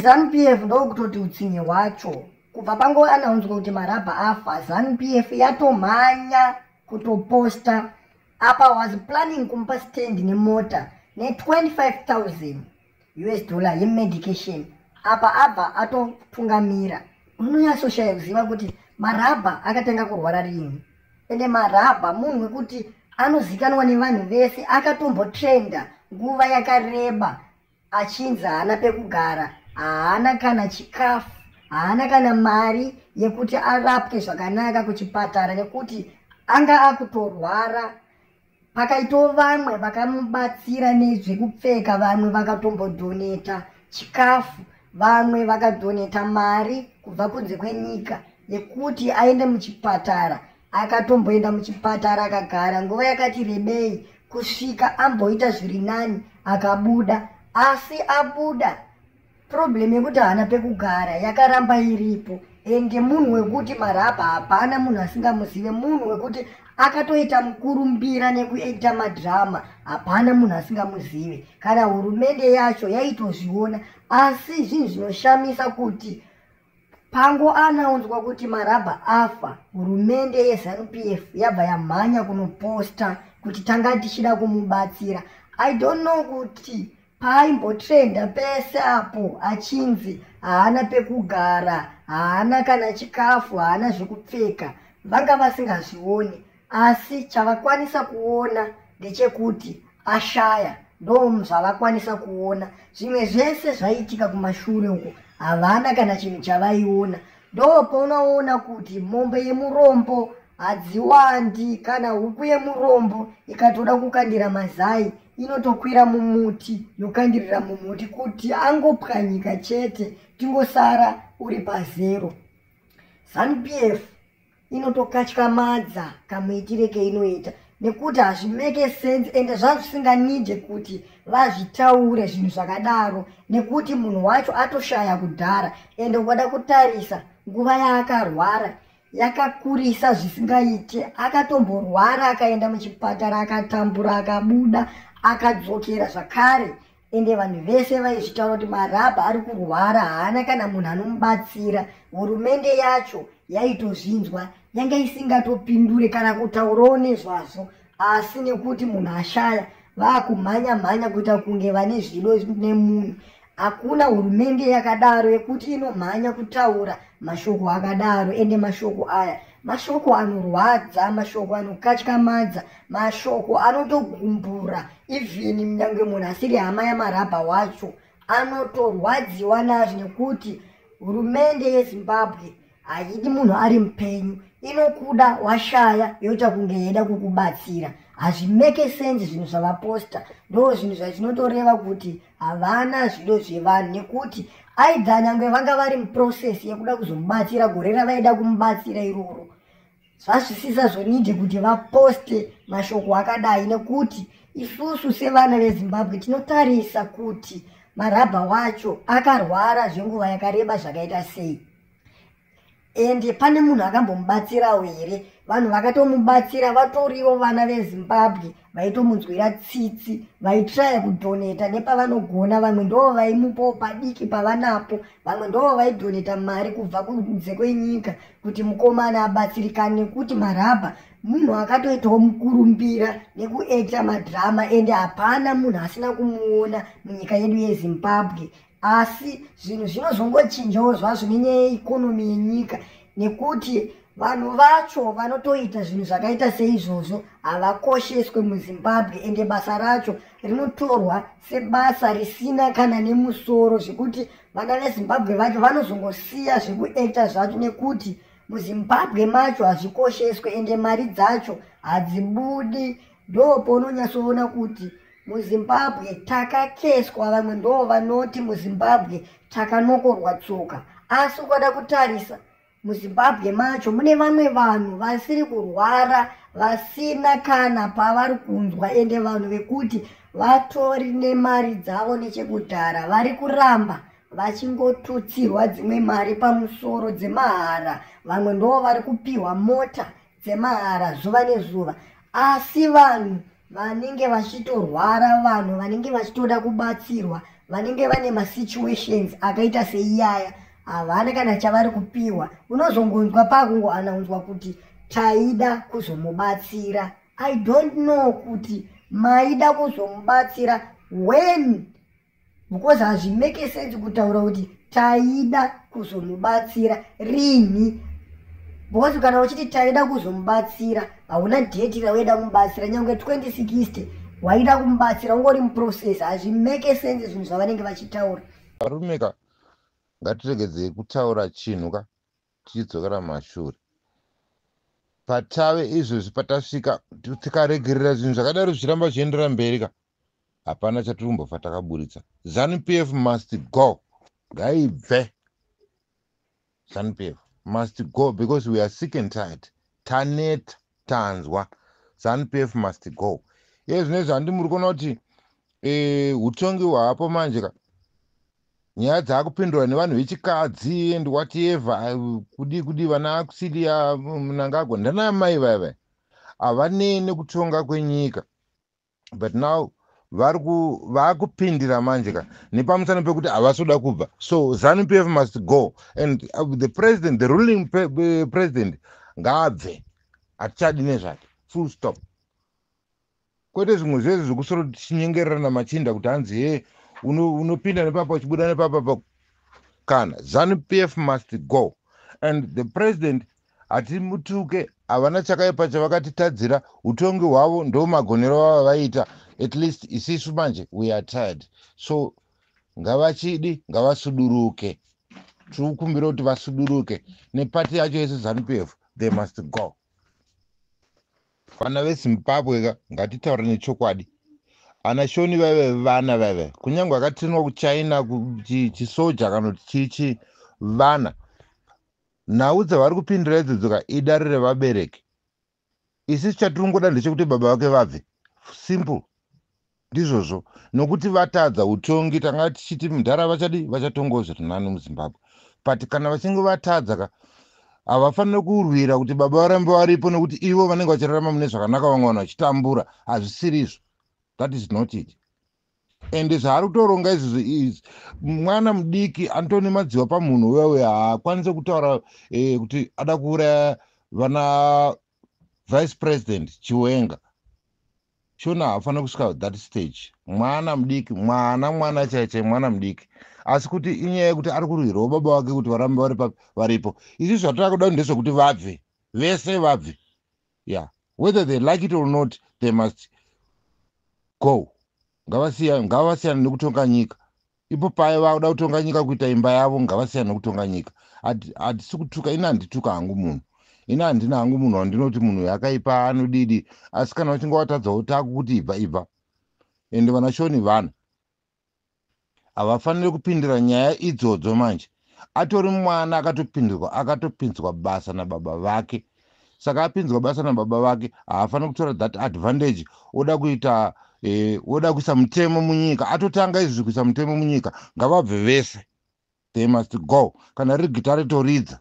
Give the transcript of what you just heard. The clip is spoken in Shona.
zanupf ndokutoti utsinye hwacho kubva pango anaunzwa kuti marabha afa zanupf yatomhanya kutoposta apa was planning kumupa stand nemota ne25000 us dollar yemedication apa abva atotungamira unonyatsoshaya kuziva kuti marabha akatanga kurwara rini ende marabha munhu wekuti anozikanwa nevanhu vese akatombotrenda nguva yakareba achinzi haana pekugara haana kana chikafu haana kana mari yekuti arapwe zvakanaka kuchipatara nekuti anga akutorwara pakaitawo vamwe vakamubatsira nezvekupfeka vamwe vakatombodhoneta chikafu vamwe vakadhoneta mari kubva kunze kwenyika yekuti aende muchipatara akatomboenda muchipatara akagara nguva yakati rebei kusvika amboita zviri nani akabuda asi abuda problem yekuti haana pekugara yakaramba iripo ende munhu wekuti marapa hapana munhu asingamuzive munhu wekuti akatoita mukurumbira nekuita madrama hapana munhu asingamuzive kana hurumende yacho yaitozviona asi zvinhu zvinoshamisa kuti Pango anaunzwa kuti Marabha afa, hurumende yeZanu-PF yabva yamhanya kunoposta kuti tanga tichida kumubatsira. I don't know kuti paimbotrenda pese apo achinzi haana pekugara, haana kana chikafu, haana zvekupfeka, vanga vasingazvioni. asi chavakwanisa kuona ndechekuti ashaya ndom zvavakwanisa kuona zvimwe zvese zvaiitika kumashure uko havana kana chinhu chavaiona ndo paunaona kuti mombe yemurombo hadziwandi kana huku yemurombo ikatoda kukandira mazai inotokwira mumuti yokandirira mumuti kuti angopwanyika chete tingosara uri pazero zanupf inotokatyamadza kamuitire keinoita nekuti hazvimeke sense ende zvazvisinganide kuti vazvitaure zvinhu zvakadaro nekuti munhu wacho atoshaya kudhara ende ukada kutarisa nguva yaakarwara yakakurisa zvisingaite akatomborwara akaenda muchipatara akatambura akabuda akadzokera zvakare ende vanhu vese vaizvitaura kuti marabha ari kurwara haana kana munhu anomubatsira hurumende yacho yaitozvinzwa yanga isingatopindure kana kutaurawo nezvazvo asi nekuti munhu ashaya vaakumhanya mhanya kuita kunge vane zvido nemunhu hakuna hurumende yakadaro yekuti inomhanya kutaura mashoko akadaro ende mashoko aya mashoko anorwadza mashoko anokatyamadza mashoko anotogumbura even nyange munhu asiri hama yamarabha wacho anotorwadziwa nazvo nekuti hurumende yezimbabwe haidi munhu ari mupenyu inokuda washaya yoita kunge yeida kukubatsira hazvimeke sense zvinhu zvavaposta ndo zvinhu zvazvinotoreva kuti havana zvido zvevanhu nekuti aidha nyange vanga vari muprocess yekuda kuzomubatsira gore ravaida kumubatsira iroro zvazvisisa zvonidi kuti vaposte mashoko akadai nekuti isusu sevana vezimbabwe tinotarisa kuti marabha wacho akarwara zvenguva yakareba zvakaita sei ende pane munhu akambomubatsirawo here vanhu vakatomubatsira vatoriwo vana vezimbabwe vaitomunzwira tsitsi vaitraya kudhoneta nepavanogona vamwe ndoo vaimupawo padiki pavanapo vamwe ndoo vaidhoneta mari kubva kunze kwenyika kuti mukomana abatsirikane nekuti marabha munhu akatoitawo mukurumbira nekuekta madhirama ende hapana munhu asina kumuona munyika yedu yezimbabwe asi zvinhu zvinozongochinjawo zvazvo nenyaya yeikonomi yenyika nekuti vanhu vacho vanotoita zvinhu zvakaita seizvozvo havakosheswe muzimbabwe ende basa racho rinotorwa sebasa risina kana nemusoro zvekuti vana vezimbabwe vacho vanozongosiya zvekuekta zvacho nekuti muzimbabwe macho hazvikosheswe ende mari dzacho hadzibudi ndoo pounonyatsoona kuti muzimbabwe takakeswa vamwe ndoo vanoti muzimbabwe takanokorwa tsoka asi ukada kutarisa muzimbabwe macho mune vamwe vanhu vasiri kurwara vasina kana pavari kunzwa ende vanhu vekuti vatori nemari dzavo nechekudhara vari kuramba vachingotutsirwa dzimwe mari pamusoro dzemahara vamwe ndoo vari kupiwa mota dzemahara zuva nezuva asi vanhu vanenge vachitorwara vanhu vanenge vachitoda kubatsirwa vanenge vane masituations akaita seiyaya havana kana chavari kupiwa unozongonzwa pakungoanaunzwa kuti taida kuzomubatsira i don't know kuti maida kuzomubatsira when because hazvimeke sense kutaura kuti taida kuzomubatsira rinhi because kana uchiti taida kuzomubatsira hauna deti rawaida kumubatsira nyange 2060 waida kumubatsira ungori muprocess hazvimeke sense zvinhu zvavanenge vachitaura varume ka ngatiregedzei kutaura chinhu ka tichidzokera mashure patave izvozvi patasvika tikaregerera zvinhu zvakadaro zvichiramba zvichiendera mberi ka hapana chatikumbofa takaburitsa zanu pf must go ngaibve zanu pf must go because we are sick and tired taneta tanzwa zanu pf must go iye zvine zvandi muri kuona kuti eh, utongi hwapo manje ka nyaya dzaakupindura nevanhu vechikadzi and whatever kudii kudii vana akusilia mnangagwa ndanamai vaiva havanei nekutonga kwenyika but now vari vakupindira manje ka nepamusana pekuti havasoda kubva so zanu pf must go and uh, the president the ruling uh, president ngaabve hatichadi nezvake full stop kwete zvimwe zvese zvekusoro tichinyengerera namachinda kuti hanzi he unopinda nepapa uchibuda nepapapa kana zanu pf must go and the president Hatimutuke havana chakaipa chavakatitadzira utongi hwavo ndomagonero vavavaita at least isisu manje we are tired so ngavachidi ngavasuduruke tiri kukumbira kuti vasuduruke nepati yacho yese zanupf they must go vana vezimbabwe ka ngatitaura nechokwadi ana shoni vaive vana vaive kunyange akatinwa kuchina chisoja kana kuti chichi vana Nhau dzavari kupindira idzodzo ka idare revabereki. Isu chatiri kungoda ndechekuti baba vake vabve. Simple. Ndizvozvo. Nokuti vatadza utongi tanga tichiti mdhara vachadi vachatongawo zviri nani muZimbabwe. But kana vachinge vatadza ka havafanire kurwira kuti baba varambe varipo nokuti ivo vanenge vachirarama mune zvakanaka vamwe vanhu vachitambura. Hazvisiri izvo. That is not it. ende zvaari kutoronga izvozvo izvi mwana mudiki anotone madziwa pamunhu uya uya haakwanise kutaura eh, kuti ada kuuraya vana vice president chiwenga shona haafanira kusvika that stage mwana mudiki mwana mwana chaichai mwana mudiki asi kuti inyaya yekuti ari kurwirawo baba vake kuti varambe varipo izvi zvatira kuda ndezvekuti vabve vese vabve yeah whether they like it or not they must go ngavasiyane nekutonga nyika ipo paye vakuda kutonga nyika kuita imba yavo ngavasiyane nekutonga nyika hatisi kutuka ini handituka hangu munhu ini handina hangu munhu wandinoti munhu yakaipa anodidi asi kana uchinge watadzawo taku kuti ibva ibva ende vanashoni vanhu havafaniri kupindira nyaya idzodzo manje atori mwana akatopindirwa akatopinzwa basa nababa vake saka apinzwa basa nababa vake haafaniri kutora that advantage oda kuita eh, oda kuisa mutemo munyika atotanga izvi kuisa mutemo munyika ngavabve vese they must go kana riri gita ritoridza